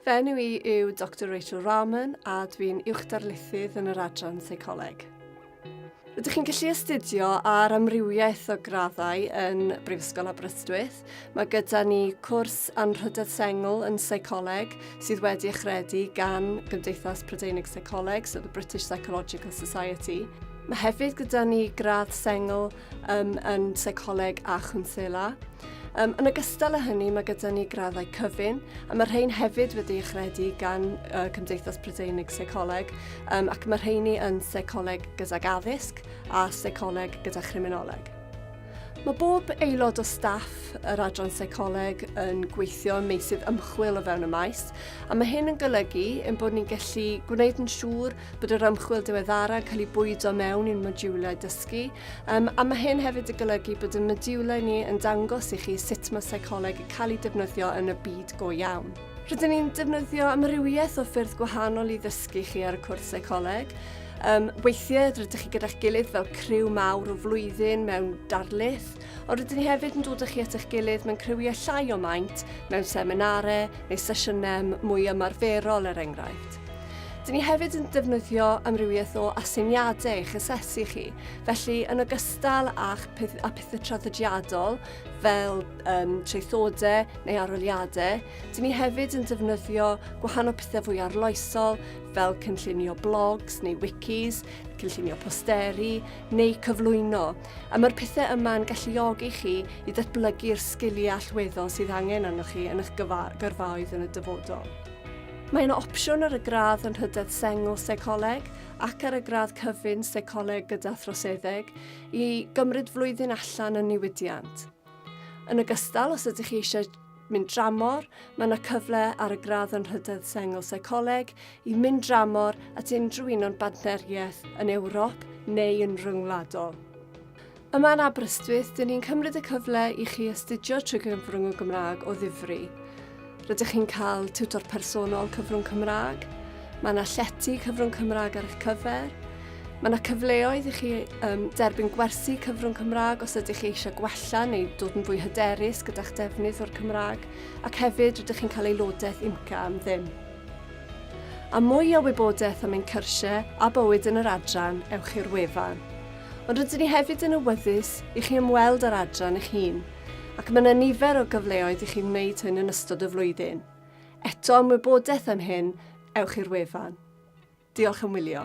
Fy enw i yw Doctor Rachel Rahman a dw i'n uwchdarlithydd yn yr adran Seicoleg. Rydych chi'n gallu astudio ar amrywiaeth o graddau yn Brifysgol Aberystwyth. Mae gyda ni cwrs anrhydedd sengl yn seicoleg sydd wedi achredu gan Gymdeithas Prydeinig Seicoleg, so the British Psychological Society. Mae hefyd gyda ni gradd sengl um, yn seicoleg a chwnsela. Um, yn ogystal â hynny, mae gyda ni graddau cyfun, a mae rhain hefyd wedi eich rhedu gan uh, Cymdeithas Prydeinig Seicoleg, um, ac mae rheini yn seicoleg gydag addysg a seicoleg gyda chriminoleg. Mae bob aelod o staff yr adran seicoleg yn gweithio ym meysydd ymchwil o fewn y maes, a mae hyn yn golygu yn bod ni'n gallu gwneud yn siŵr bod yr ymchwil diweddara yn cael ei bwydo mewn i'n modiwlau dysgu, um, a mae hyn hefyd yn golygu bod y modiwlau ni yn dangos i chi sut mae seicoleg yn cael ei defnyddio yn y byd go iawn. Rydyn ni'n defnyddio amrywiaeth o ffyrdd gwahanol i ddysgu chi ar y cwrs seicoleg. Um, weithiau rydych chi gyda'ch gilydd fel criw mawr o flwyddyn mewn darlith, ond rydyn ni hefyd yn dod â chi at eich gilydd mewn criwiau llai o maint, mewn seminarau neu sesiynau mwy ymarferol er enghraifft. Dyn ni hefyd yn defnyddio amrywiaeth o aseiniadau eich asesu chi, felly yn ogystal â'ch peth, a pethau traddodiadol fel um, traethodau neu aroliadau, dyn ni hefyd yn defnyddio gwahanol pethau fwy arloesol fel cynllunio blogs neu wikis, cynllunio posteri neu cyflwyno. A mae'r pethau yma'n galluogi chi i ddatblygu'r sgiliau allweddol sydd angen arnoch chi yn eich gyrfaoedd yn y dyfodol. Mae yna opsiwn ar y gradd yn Rhydedd Sengl Seicoleg ac ar y gradd cyfun Seicoleg gyda Throseddeg i gymryd flwyddyn allan yn niwidiant. Yn ogystal, os ydych chi eisiau mynd dramor, mae yna cyfle ar y gradd yn Rhydedd Sengl Seicoleg i mynd dramor at unrhyw un o'n badneriaeth yn Ewrop neu yn ryngwladol. Yma yn Aberystwyth, dyn ni'n cymryd y cyfle i chi astudio trwy gyfrwng y Gymraeg o ddifri. Rydych chi'n cael tiwtor personol cyfrwng Cymraeg, mae yna llety cyfrwng Cymraeg ar eich cyfer, mae yna cyfleoedd i chi um, derbyn gwersi cyfrwng Cymraeg os ydych chi eisiau gwella neu dod yn fwy hyderus gyda'ch defnydd o'r Cymraeg, ac hefyd rydych chi'n cael aelodaeth IMCA am ddim. A mwy o wybodaeth am ein cyrsiau a bywyd yn yr adran, ewch i'r wefan. ond rydyn ni hefyd yn awyddus i chi ymweld â'r adran eich hun, ac mae yna nifer o gyfleoedd i chi wneud hyn yn ystod y flwyddyn. Eto am wybodaeth am hyn, ewch i'r wefan. Diolch am wylio.